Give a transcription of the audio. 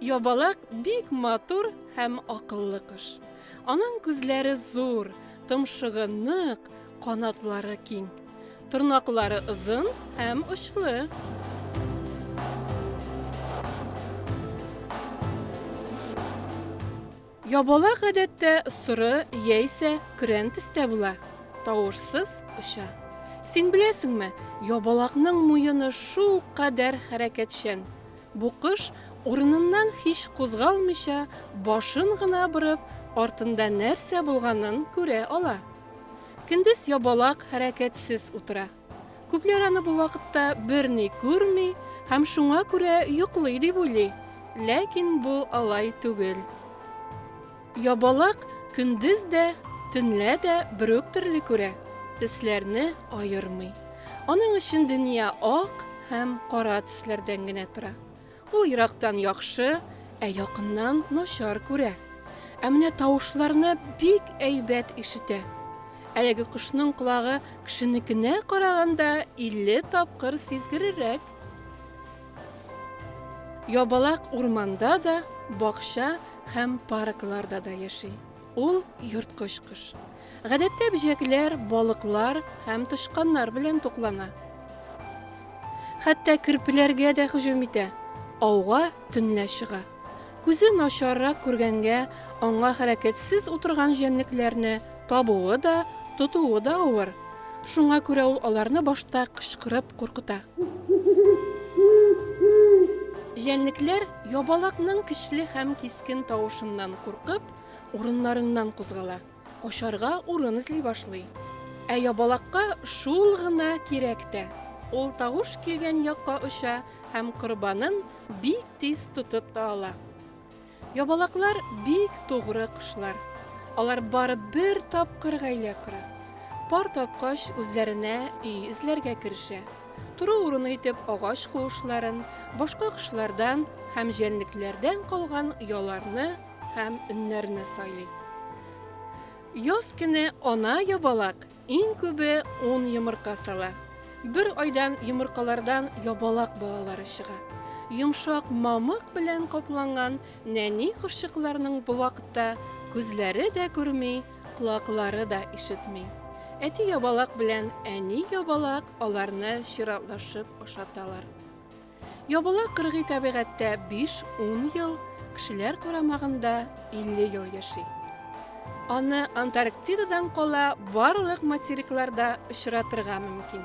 Ябалак бик матур һәм акыллы кыш. Аның күзләре зур, томшыгы нык, канатлары киң. Тырнаклары озын һәм очлы. Ябала гадәттә соры яисә көрән төстә була. Тавышсыз оча. Син беләсеңме, ябалакның муены шул кадәр хәрәкәтчән. Бу кош урыныннан һич кузгалмыйча, башын гына борып, артында нәрсә булганын күрә ала. Көндез ябалак, хәрәкәтсез утыра. Күпләр аны бу вакытта берни күрми һәм шуңа күрә йоклый дип уйлый. Ләкин бу алай түгел. Ябалак көндез дә, төнлә дә бер үк төрле күрә, төсләрне аермый. Аның өчен дөнья ак һәм кара төсләрдән генә тора. Ул ерактан яхшы, ә якыннан начар күрә. Ә менә тавышларны бик әйбәт ишетә. Әлеге кошның колагы кешенекенә караганда 50 тапкыр сизгерерәк. Ябалак урманда да, бакча һәм паркларда да яши. Ул ерткыч кош. Гадәттә бөҗәкләр, балыклар һәм тычканнар белән туклана. Хәтта керпеләргә дә һөҗүм итә. Ауга төнлә чыга. Күзе начаррак күргәнгә, аңа хәрәкәтсез утырган җәнлекләрне табуы да, тотуы да авыр. Шуңа күрә ул аларны башта кычкырып куркыта. Җәнлекләр ябалакның көчле һәм кискен тавышыннан куркып, урыннарыннан кузгала. Качарга урын эзли башлый. Ә ябалакка шул гына кирәк тә. Ул тавыш килгән якка оча һәм корбанын бик тиз тотып та ала. Ябалаклар бик тугры кошлар. Алар бары бер тапкыр гаилә кора. Пар тапкач, үзләренә өй эзләргә керешә. Тору урыны итеп агач куышларын, башка кошлардан һәм җәнлекләрдән калган ояларны һәм өннәрне сайлый. Яз көне ана ябалак иң күбе 10 йомырка сала. Бер айдан йомыркалардан ябалак балалары чыга. Йомшак мамык белән капланган нәни кошчыкларның бу вакытта күзләре дә күрми, колаклары да ишетми. Әти ябалак белән әни ябалак аларны чиратлашып ашаталар. Ябыла кыргый табигатьтә биш, ун ел, кешеләр карамагында илле ел яши. Аны Антарктидадан кала барлык материкларда очратырга мөмкин.